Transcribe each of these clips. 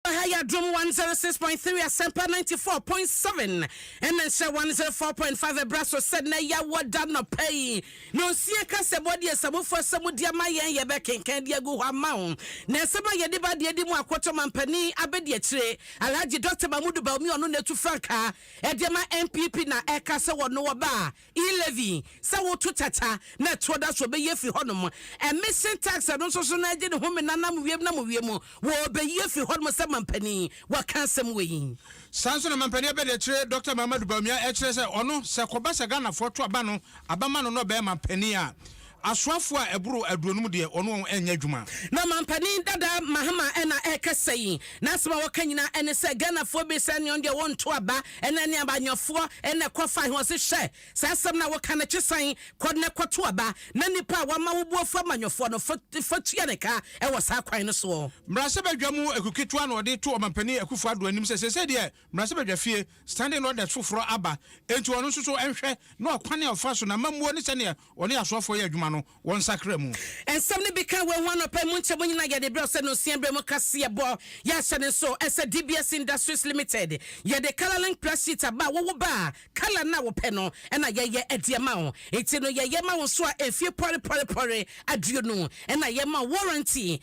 Aha yɛ adom one zero six point three asɛmpa ninety four point seven ɛna nhyira one zero four point five ɛbra so sɛ na yɛ wɔ da nɔpɛ yi na osia ka sɛ bɔ deɛ sabufo asɛm mu deɛ ma yɛn yɛ bɛ kenkan deɛ gu hɔ ama ho na ɛsɛm a yɛde ba deɛ di mu akoto mampanin abɛdi akyire alhaji dɔkta mahmudu baumi ɔno na etu frankaa ɛdeɛ ma npp na ɛka sɛ wɔn no wɔba a E. Levy, sɛ woto tata na ɛtoɔ da so ɔbɛyi afiri hɔnom. Emission tax no nso so no agye ne home nanam wiem nam wiem wɔ ɔbɛyi afiri hɔnom sɛ mampanin. Waka asɛm wɔ yi. Saa nso na mampanin abɛdiakyire Dɔkta Mahamadou Bawumia ɛkyerɛ sɛ ɔno sɛ kɔba sɛ Ghanafoɔ to aba no aba ma no na ɔbɛyɛ mampanin a Asoafo a ɛboro aduonum deɛ, wɔne wɔn nyɛ adwuma. Na ɔmanpanin dada Mahama na ɛrekasa yi, n'asɛm a ɔka nyinaa ne sɛ Ghanafoɔ bi sɛ neɔn deɛ wɔnto aba ne ne abayoɔfoɔ na ɛkɔfae he, ɔse hwɛ, saa asɛm no a woka no kye san kɔ na kɔto aba na nnipa a wɔama wo boɔ fa amanyoɔfoɔ no fa tua ne ka wɔ saa kwan no soɔ. Mmarahyɛbadwa mu aku ketewa na ɔde to Ɔmanpanin Akuffo Addo anim sɛ seesei deɛ mmarahyɛbadwafie, standing orders, foforɔ aba, enti ɔno nso so nhwɛ na ɔkwan a ɔfa so na amammuo ne sɛdeɛ Wɔne asoɔfoɔ yɛ adwuma no, wɔnsakra mu. Nsɛm no bi ka wei ho anɔpa yi mu nkyɛmu nyinaa yɛde brɛ wo sɛ nonsia berɛ mu kaseɛbɔ. Yɛahyɛ no nso sɛ DBS Industries Limited. Yɛde colour link press sheet aba a wowo ba a colour no a wopɛ no na yɛyɛ de ama wo. Enti no yɛyɛ ma wo nso a mfie pɔre pɔre pɔre aduonu na yɛma wo warranty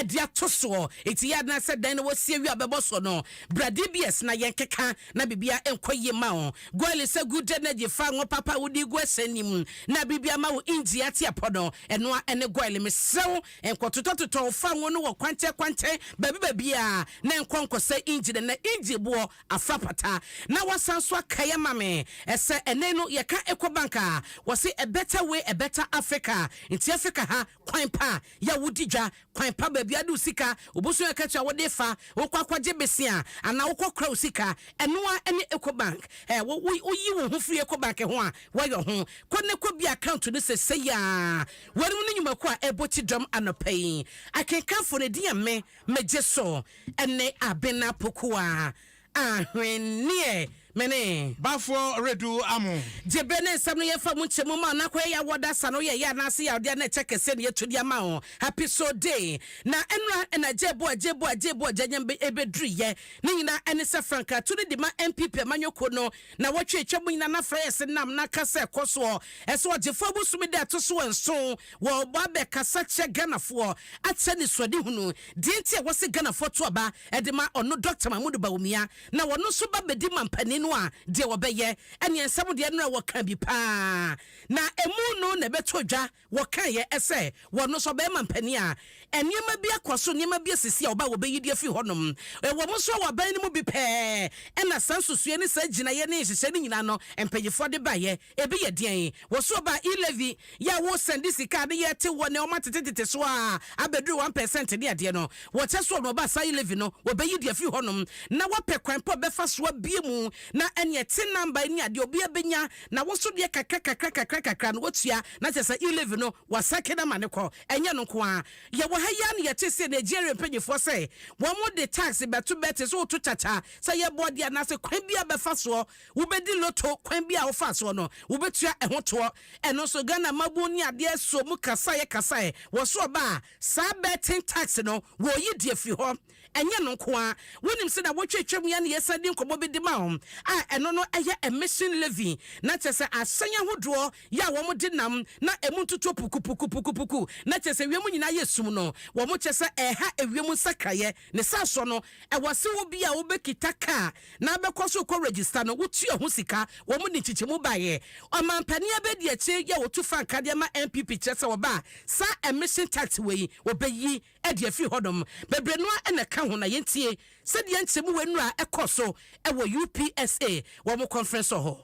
de ato soɔ. Enti yɛ ara na sɛ dan no wosie wie a wobɛbɔ soɔ no bra DBS na yɛnkeka na biribiara nkɔ yie mma wo. Gu a lisa gu dɛ na gye fa ngo papa a wode gu ɛsɛn no mu na bere biara ma wo engyi ate apɔ no. Ɛno ara ne goil. Mesrɛ wo nkɔtotɔtotɔ wo fa ngo no wɔ kwankyɛnkwankyɛn baabi baabiara na ɛnkɔ nkɔsɛ engyi no. Na engyi boɔ afra pata. Na woasan nso akae ama me sɛ ɛnnɛ yi no yɛka Ecobank a, wɔse a better way a better Africa. Nti Africa ha, kwan pa a yɛ wodi dwa, kwan pa baabi a de wo sika, wo bosome akatua a wode fa, wokɔ akɔgye besea anaa wokɔ kora wo sika, ɛno ara ne Ecobank. Ɛ, wo, wo, woyi wo ho firi Ecobank ho a, woayɔ ho. Kɔ na kɔ bue account no sesei ara. Weinom ne nnwumakuo a ɛbɔ ti dɔm anɔpa yi. Akenkanfoɔ no edin yɛ me, Megye so, ɛne Abena Pokuah. Ahwenneɛ me ne. Bafoɔ redu amo. Gyebe ne nsɛm no yɛmfa mu nkyɛ mu ma wo na kɔyɛ yɛ wɔda sa no yɛ yɛ anaase yawdeɛ a na ɛkyɛ kɛseɛ na yɛtu de ama wo happy so day na ɛnora ɛna gyebo a gyebo a gyebo a gyanyam be ɛbɛduru yɛ ne nyina ɛne sɛ frankaa tu no de ma npp amanyɔkuo no na wɔtwe atwa mu nyina na frɛ yɛ se nam na ka sɛ ɛkɔ soɔ ɛsɛ ɔgyefoɔ abosome da ɛto so nson wɔ bɔ abɛ kasa kyerɛ Ghanafoɔ akyɛ ne suadehunu deɛ nti a wɔse Ghanafoɔ to aba de ma ɔno Dɔkta Mahmood Bawumia, na wɔno nso ba bɛdi ma mpanin no a deɛ wɔbɛyɛ, ɛneɛ nsɛm deɛ nora wɔka bi pa ara, na ɛmu no na ɛbɛtɔ dwa, wɔkaeɛ sɛ wɔno nso ɔbɛɛma mpanin a nneɛma bi akɔ so, nneɛma bi asisi a ɔba a wɔbɛyi deɛ afiri hɔ nom. Wɔn nso wɔ aban no mu bi pɛɛ na saa nsusuiɛ ne saa gyinaeɛ ne nhyehyɛeɛ no nyinaa no mpanyinfoɔ de baeɛ. Ebi yɛ deɛn? Wɔso ɔbaa e-levy yɛ a wo sɛnde sika a ne yɛ te hɔ nɛ ɔma tete tete so a abɛduru one pɛsɛnt ne adeɛ no wɔkyɛ so ɔno ɔbaa saa e-levy no wɔbɛyi de afiri hɔ nom na wapɛ kwan pa ɔbɛfa so abue mu na ɛne ɛte number ne adeɛ obiara bɛnya na wo nso deɛ kakra kakra kakra kakra no watua na kyɛ sɛ e-levy no wasɛke no ama no kɔ ɛnyɛ ɛno nko ara yɛ wɔ ha yi ara na yɛte se Nigeria mpanyifoɔ sɛ wɔn de tax bɛto bɛ te sɛ woto kyakya sɛ yɛbɔ deɛ anaasɛ kwan biara bɛfa soɔ wobɛdi loto kwan bi a wofaa soɔ no, wobɛtua ɛho toɔ. Ɛno nso, Ghana Mmabuo ne Adeɛ Suo mu kasaeɛ kasaeɛ wɔ so ɔba a, saa betting tax no, wɔreyi de afiri hɔ. Ɛnyɛ ɛno nko ara, wonim sɛ nnawɔtwe atwam yi a na yɛsan di nkɔmmɔ bi de ma wo a, ɛno no yɛ emission levy, na kyerɛ sɛ ahyɛn ahodoɔ yɛ a wɔde nam na ɛmu ntutuo pukupukupukupuku, na kyerɛ sɛ wiem nyinaa yɛ sum no, wɔkyerɛ sɛ ɛreha ewiem nsakraeɛ. Ne saa so no, ɛwɔ se wo bia wo bɛ kita kaa na bɛkɔ so rekɔ register no, wo tua ho sika. Wɔn de nkyekyɛmu baeɛ. Ɔmanpanin Abedi Akyire yɛ ɔtu frankaa de ama NPP kyerɛ sɛ ɔba a, saa emission tax wei ɔbɛyi de afiri hɔnom. Bebree no ara na ɛka ho na yɛntie sɛdeɛ nkyerɛmu wei nnura kɔɔ so wɔ UPSA wɔn conference hɔ.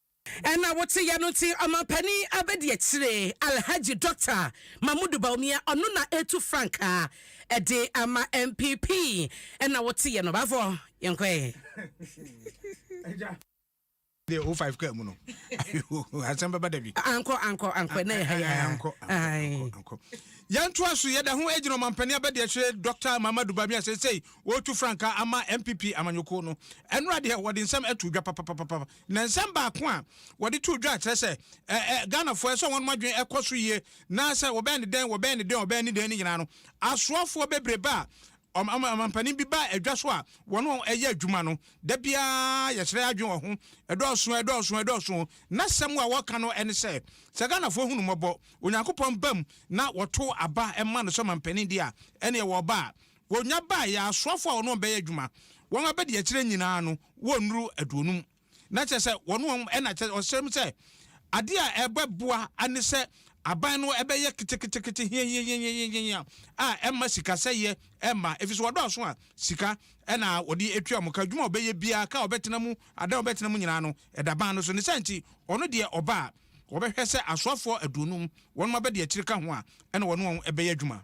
Ɛna wote yɛ no nti ɔmanpanin abɛdi akyire Alhaji Dɔkta Mahmudu Bawumia ɔno na ɛtu frankaa ɛde ama NPP ɛna wote yɛ no baafoɔ yɛnkɔɛ. deɛ o five kaa mu no asɛm bɛba da bi. ankɔ ankɔ ankɔ ɛna yɛ ha yɛ ha ankɔ ankɔ yɛntoa so yɛda ho agyina ɔmampanin abɛdeɛ kyerɛ dɔkta mamadu baabi a sɛsɛi wɔretu frankaa ama mpp amanyɔkuo no ɛnora deɛ wɔde nsɛm ato dwa papapapa Na nsɛm baako a wɔde too dwa a kyerɛ sɛ ɛ ɛ Ghanafoɔ ɛsɛ sɛ wɔn adwene kɔ so yie na sɛ wɔbɛyɛ no dɛn wɔbɛyɛ no dɛn wɔbɛyɛ no dɛn no nyinaa no, asoafoɔ bebrebe a ɔm ɔm ɔmampanin bi ba adwa so a wɔne wɔn yɛ adwuma no, da biara yɛsrɛ yɛn adwene wɔ ho. Ɛdɔɔso, ɛdɔɔso, ɛdɔɔso. N'asɛm a wɔka no ne sɛ, sɛ Ghanafoɔ hu no mmɔbɔ, Onyankopɔn ba mu na wɔto aba ma no sɛ ɔmampanin deɛ a, ɛnneɛ wɔba a, Wɔnya baeɛ a, asoafoɔ a wɔne wɔn bɛyɛ adwuma, wɔn abadiakyire nyinaa no, wɔnnuru aduonum. Na kyerɛ sɛ, wɔne wɔn, ɛna kyerɛ, ɔhyɛ mu sɛ, adeɛ a ɛbɛboa ne sɛ aban no bɛyɛ ketekete hiahiahiahiahiahia a ɛmma sikasɛeɛ mma, ɛfiri sɛ wɔdɔɔso a, sika na wɔde tua wɔn ka. Adwuma a wɔbɛyɛ biara, kaa a wɔbɛtena mu, adan a wɔbɛtena mu nyinaa no, ɛda ban no so. Ne saa nti, ɔno deɛ ɔba a, wɔbɛhwɛ sɛ asoafoɔ aduonum, wɔnom abadiakyire ka ho a, ɛna wɔne wɔn bɛyɛ adwuma.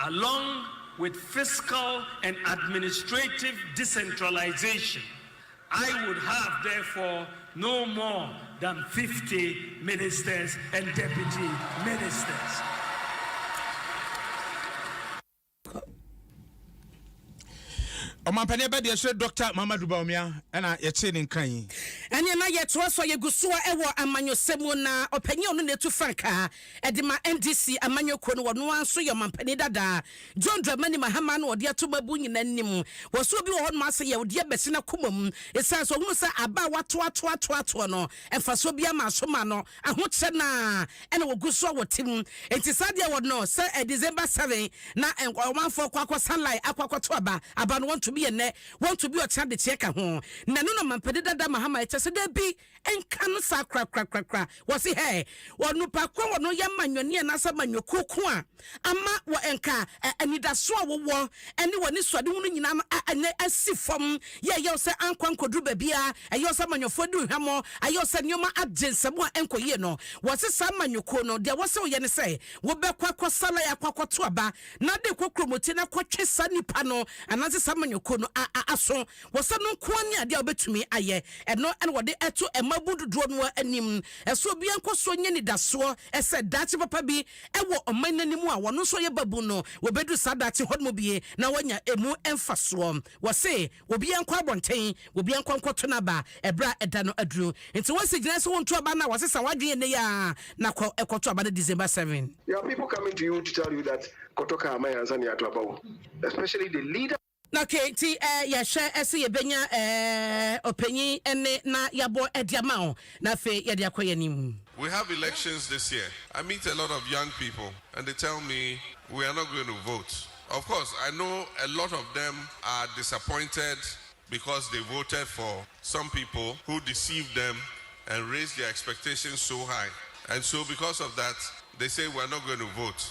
along with fiscal and administrative decentralization, I would have therefore no more than 50 ministers and deputy ministers. ɔmampanin ɛbɛ deɛ ɛhyɛ dɔkta mamadu baomia ɛna yɛte ne nkran yi. ɛneɛ na yɛtoa so a yɛgu so a ɛwɔ amanyɔsɛm mu na ɔpanyin ɔno na ɛtu frankaa Ɛde ma NDC amanyɔ kuo no, wɔn ara nso yɛ ɔmanpanin dada John Dramani Mahama na wɔde ato mmaabun nyinaa anim. Wɔsoɔ bi wɔ hɔnom ara sɛ yawdeɛ bɛhyɛ n'akoma mu ɛsiane sɛ ɔhunu sɛ aba a wɔatoatoatoatoɔ no mfasoɔ biara mmaa so mmaa no, ahokyerɛ no ara na wɔgu so a wɔte mu. Enti saa adeɛ wɔ no sɛ December seven na ɔmanfoɔ kɔ akɔ sa line akɔ akɔto aba, aba no wɔnto bi ɛnnɛ, wɔnto bi ɔkyena de kyeɛ ka ho. Na ɛno na ɔmanpanin dada Mahama ɛkyerɛ sɛ dabi, nka no saa korakorakorakora. Wɔse hɛ, onipa ko a wɔ no yɛ manyɔni anaasɛ manyɔkuo ko a ama wɔ nka ɛ, anidasoɔ a wowɔ ne wɔ anisoadehunu nyinaa no a ɛnɛ asi fam. Yɛ ɛyɛ wo sɛ ankɔ ankɔduru baabiara, ɛyɛ wo sɛ manyɔfoɔ adi wo hwammɔ, ayɛ wo sɛ nneɛma agye nsam a ɛnkɔ yie no. Wɔse saa manyɔkuo no, deɛ ɛwɔ sɛ woyɛ ne sɛ, wobɛkɔ akɔsa lae akɔ akɔto aba na de rekɔ kuromotie na akɔtwe saa nipa no anaasɛ saa manyɔkuo no a a aso. wɔ sɛ no nko ara ne adeɛ a wobɛtumi ayɛ. Ɛno na wɔde to mmabunu dodoɔ no ara anim sɛ obiara nkɔ so nyɛ anidasoɔ sɛ daakye papa bi wɔ ɔman no anim a wɔn nso wɔyɛ babunu no, wɔbɛduru saa daakye hɔ no mu bi na wɔanya ɛmu mfasoɔ. Wɔse obiara nkɔ abɔnten, obiara nkɔ nkɔto n'aba ɛberɛ a ɛda no aduru. Nti wɔasi gyinae sɛ wonto aba no a, wɔasesa w'adwene ɛnnɛ yi ara na kɔ kɔto aba no December seven. There are people coming to you to tell you that kɔtɔ car ma yɛn ansa na yɛato aba o, especially the leader. Ok nti eh yɛhwɛ se yɛbɛnya eh ɔpanyin nne na yɛabɔ de ama wo na afei yɛde akɔ yɛn anim. We have elections this year I meet a lot of young people and they tell me we are not going to vote of course I know a lot of them are disappointed because they voted for some people who deceived them and raised their expectations so high and so because of that they say we are not going to vote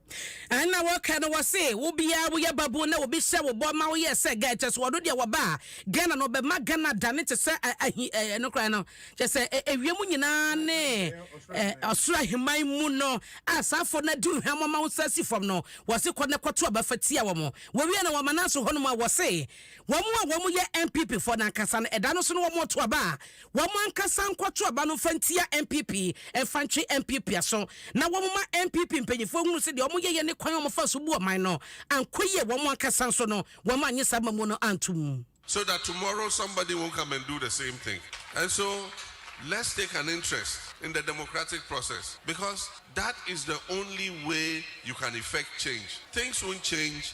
Ɛna wɔka no wɔse wo biaa woyɛ babun na obi hyɛ wo bɔ ma woyɛ sɛ guy kyɛsɛ ɔno deɛ wɔba a Ghana no ɔbɛma Ghana adane te sɛ ahi eh, ɛno koraa no kyɛsɛ ewiem nyinaa ne eh, ɔsoro aheman mu no a saa afɔ no adi hwam ɔma wo sa si fam no wɔse kɔ ne kɔto abafa tia wɔn wɔwie no wɔma no aso hɔnom a wɔse wɔn a wɔn yɛ NPP fɔ no ankasa no ɛda no so no wɔn ɔto aba a Wɔn ankasa nkɔto aba no mfa ntia NPP, mfa ntwe NPP aso, na wɔmma NPP mpanyimfoɔ nhunu sɛ deɛ wɔyɛeɛ ne kwan a wɔfaa so buu ɔman no ankɔ yie, wɔn ankasa nso no wɔannye saa mmamu no antom. So that tomorrow somebody won't come and do the same thing and so let's take an interest in the democratic process because that is the only way you can effect change, things won't change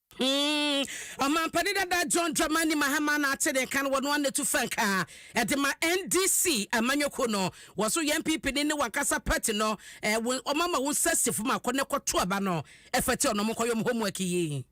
Mm, Ɔmanpanin dada John Dramani Mahama na ate ne nka no, wɔn ano tu frankaa ɛde ma NDC amanyɔkuo no. Wɔ so yɛn PP ne ne wankasa party no, eh, wɔn ama wɔn nsa si fam akɔ ne kɔto aba no ɛfɛte ɔno wɔn kɔ yɔm homework yi.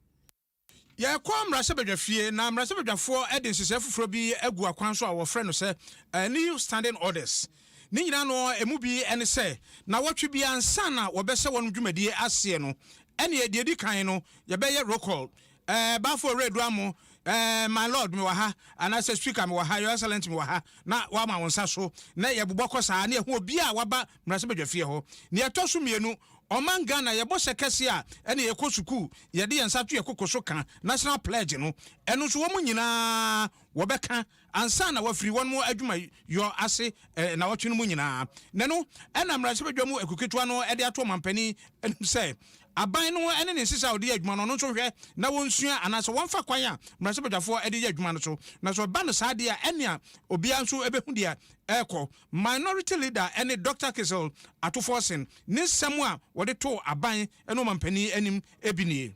Yɛkɔ mmarahyɛbadwafie na mmarahyɛbadwafoɔ de nhyehyɛeɛ foforɔ bi agu akwan so a wɔfrɛ no sɛ New Standing Orders. Ne nyinaa no emu bi ne sɛ, nnawɔtwe bi ansa na wɔbɛhyɛ wɔn dwumadi aseɛ no, ɛneɛ deɛ ɛdi kan no yɛbɛyɛ roll call, Ɛɛ Bafo Owuredu Amoo, Ɛɛ My Lord me wɔ ha, anaasɛ Speaker me wɔ ha, Your Excellent me wɔ ha, na woama wo nsa so, na yɛbobɔ kɔ saa, na yɛhu obiara a waba mmarahyɛbadwafie hɔ. Deɛ ɛtɔ so mmienu, Ɔman Ghana yɛbɔ hyɛ kɛseɛ a, ɛneɛ yɛkɔ sukuu, yɛde yɛn nsa to yɛn koko so ka National Pledge no, ɛno nso wɔn nyinaa wɔbɛka ansa na wɔafiri wɔn adwumayɔ ase nnawɔtwe no mu nyinaa. Nnɛ no, na mmarahyɛbadwa mu akuw ketewa no de ato ɔmanpanin anim sɛ aban no ne ne nhyehyɛe a ɔde yɛ adwuma no, ɔno nso nhwɛ na wonsua anaasɛ wɔmfa kwan a mmarahyɛbadwafoɔ de yɛ adwuma no so. Na sɛ ɛba no saa deɛ a, ɛnneɛ obiara nso bɛhu deɛ ɛrekɔ. Minority Leader ne Dɔkta Kissel Atuforsen ne nsɛm a wɔde too aban ne ɔmanpanin anim bi nie.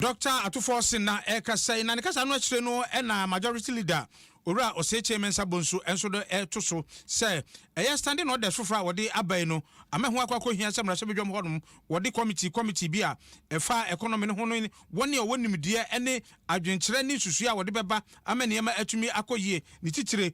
Dɔkta Atufoɔ Senna ɛrekasa yi, na ne kasa no akyire no na Majority Leader Owura Osekyei Mensah Bonsu nso de reto so sɛ ɛyɛ Standing Orders foforɔ a wɔde aba yi no ama ɛho akɔ akɔhia sɛ mmarahyɛbadwam hɔ nom wɔde kɔmitii kɔmitii bi a ɛfa economy no ho no wɔn a wɔwɔ nimdeɛ ne adwenkyerɛ ne nsusuiɛ a wɔde bɛba ama nneɛma atumi akɔ yie ne titire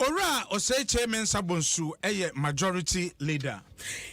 Owura Osei-Kyei Mensah Bonsu yɛ Majority Leader.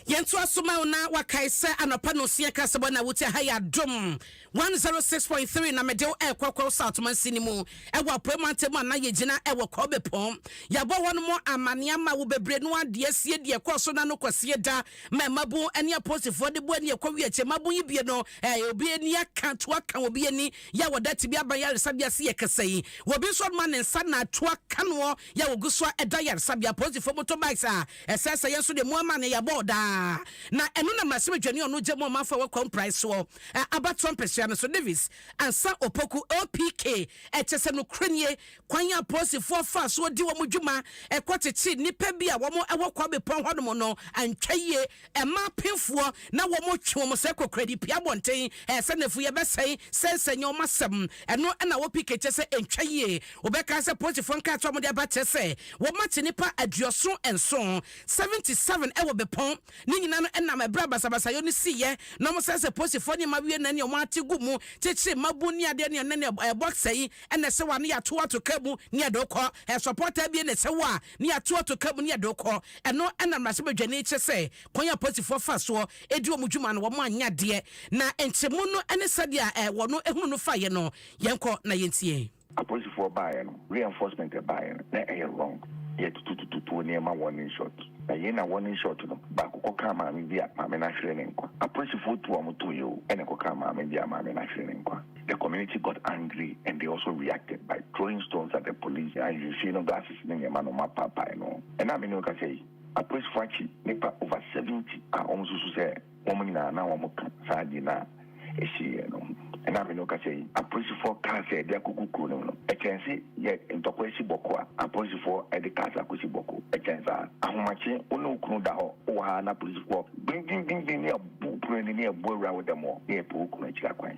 Yɛntoa so ma wo na wakae sɛ anɔpa nɔsia kasabɔ na wotia ha yɛ adom 106.3 na mede wo ɛrekɔ Kwao South mansin no mu ɛwɔ apuei mantam a na yɛgyina ɛwɔ Kwao Bepɔn yɛabɔ hɔ nom amane ama wo bebree no ara deɛ asie deɛ ɛkɔɔ so na no kɔsie da ma mmabun ne aposifoɔ de boa ni ɛkɔwie akyɛ mmabun yi bie no ɛɛ obi ani aka to aka obi ani yɛ a wɔda tebea ba yaresabea ase yɛ kɛse. Wɔ bi nso ɔma ne nsa na atu aka noɔ yɛ a wɔgu so a da yaresabea. Polisifoɔ motorbikes a ɛsɛesɛeɛ nso deɛ moama no yɛ bɔɔ daa. Na ɛno na mmarahyɛbadwani a ɔno gya mu ɔmanfoɔ a wɔakwaw mpraeɛ soɔ abatoɔ mpesua no so, Davis Ansah Opoku, OPK, kyɛ sɛ nokorɛ nie Kwan a apolisifoɔ faa so di wɔn dwuma kɔkyekyee nnipa bi a wɔwɔ Kwa Bepɔn hɔnom no antwa yie mmaa apemfoɔ na wɔtwe wɔn sɛ kokoradi pue abɔnten sɛ nnafua yɛbɛsɛe sɛnsɛnyɛ wɔn asɛm ɛno na wɔ pii kɛkyɛ sɛ ɛntwa yie wobɛka sɛ apolisifoɔ nkrataa a wɔde aba kyerɛ sɛ wɔakye nnipa aduɔson nson, 77, wɔ Bepɔn Ne nyina no nam ɛberɛ a basabasayɔ no siiɛ na ɔmo sɛsɛ poosifoɔ nneɛma wie na ɛne ɔmo ate gu mu kyekyere mmabun ne adeɛ ne ɛnɛ no ɛɛ box ɛyi ɛna ɛsɛ wa ne yɛato ato car mu ne yɛde wo kɔ ɛɛ support abie na ɛsɛ wo a ne yɛato ato car mu ne yɛde wo kɔ ɛno ɛna mmarahyɛbadwani kyerɛ sɛ kwan a poosifoɔ fa soɔ ɛdi ɔmo dwuma no ɔmo anyɛ adeɛ na nkyemu no ɛne sɛdeɛ a ɛɛ wɔn ɛhunu no faeɛ no yɛnkɔ na yɛntie. Apolisifoɔ baeɛ no reinforcement ɛbaeɛ no na ɛyɛ wrong yɛ tututututuo nneɛma warning shot na yei na warning shot no baako kɔkaa maame bi a maame no ahwere ne nkwa apolisifoɔ tu a wɔn tooyɛ o ɛna ɛkɔkaa maame bi a maame no ahwere ne nkwa the community got angry and they also reacted by throwing stones at the police na nhwiren no glasses ne nneɛma no wɔn apaapae no ɛna me ne wo kasa yi apolisifoɔ akyi nipa over seventy a wɔn susu sɛ wɔn nyinaa na wɔto saa gye no a ɛsiiɛ no ho. Ɛna me ne wo kasa yi, apolisifoɔ kaa sɛ de akɔgu kuro no mu no, ɛkyɛn se yɛ ntɔkwa asi bɔko a, apolisifoɔ de cars akɔsi bɔko. Ɛkyɛn saa. Ahomakye, wo ne wo kunu da hɔ, wowɔ ha na apolisifoɔ gbinngbingbingbin ne abu pono ani ne abu awura wo dɛm hɔ ne ɛpɛ wo kunu akyiri akwan.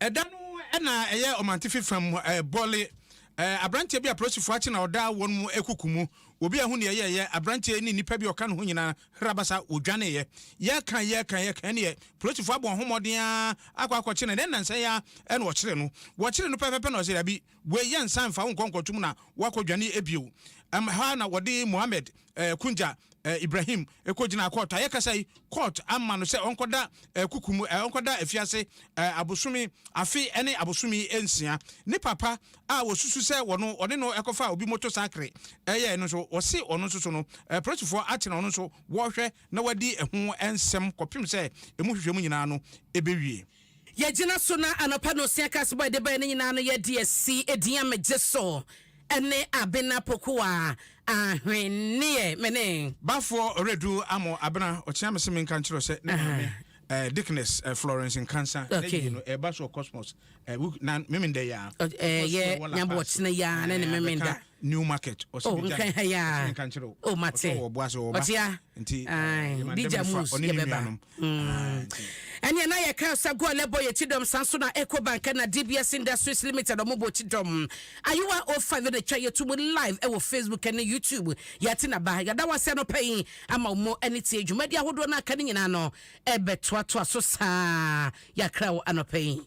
Ɛda no na ɛyɛ Ɔmantifi fam bɔle. Aberanteɛ bi a apolisifo akye na ɔda wɔn mu akuku mu. Obi a ɛho nni ɛyɛɛyɛ, aberanteɛ yi ne nnipa bi a ɔka ne ho nyinaa hrabasa wɔdwaneeɛ. Yɛka, yɛka, yɛka ɛnneɛ polisifo abɔ wɔn ho mmɔden ara akɔ akɔkye no. Ɛnnɛ nnansa yi ara na wɔkyeree no. Wɔkyeree no pɛpɛpɛ na ɔse, Dabi, Wei yɛ nsan mfa wo nkɔ nkɔtom na woakɔ dwane ɛbio. Ɛm ha na wɔde Mohammed eh, Kunja eh, Ibrahim ɛkɔ gyinaa kɔɔt. Ayɛ kasa yi, kɔɔt ama no sɛ ɔnkɔda eh, kuku mu, eh, ɔnkɔda afiase eh, abosome afe ɛne abosome nsia. Ne papa a wɔsusu sɛ wɔno ɔne no ɛkɔfa obi moto sakre ɛyɛɛ no nso, wɔse ɔno nso so no eh, polisifoɔ atena ɔno nso wɔrehwɛ na wɔadi ɛho ɛnsɛm kɔpem sɛ ɛmu hwehwɛmu nyinaa no ɛbɛwie. Yɛgyina so na anɔpa na Osea Kass bɔe de bae no nyinaa no yɛ deɛ si edin a megye so ne Abena Pokuwa ahwenneɛ. Mene. Bafoɔ Redu Amoh Abena ɔkyea me se menka nkyerɛ wo sɛ ne maame eh, Dickness eh, Florence Nkansah na Okay. yie no ɛreba so wɔ Cosmos eh, book na Memenda yi ara. Ɔ- ɛɛ, Because yɛ yɛwɔ La Nyabo Paz, ɔkyena yi ara ne ne eh, Memenda. abɛka new market ɔsi oh, mi gya ɔsi mi nka nkyerɛ o oh, ɔsɛ ɔwɔ ɔboa sɛ ɔba ɔtia nti digya mu ɔne ne nuanom ɛne ɛna yɛ kan sa goal ɛbɔ yɛ ti dɔm san so na eco bank na dbs industries limited ɔmo bɔ ti dɔm ayewa o oh five na twa yɛ tu mu live ɛwɔ facebook ɛne youtube yɛte na ba yɛda wɔ asɛ no pɛyin ama ɔmo ɛne tie dwumadi ahodoɔ no aka ne nyinaa no ɛbɛtoatoa so saa yɛakra wɔ anɔpɛyin.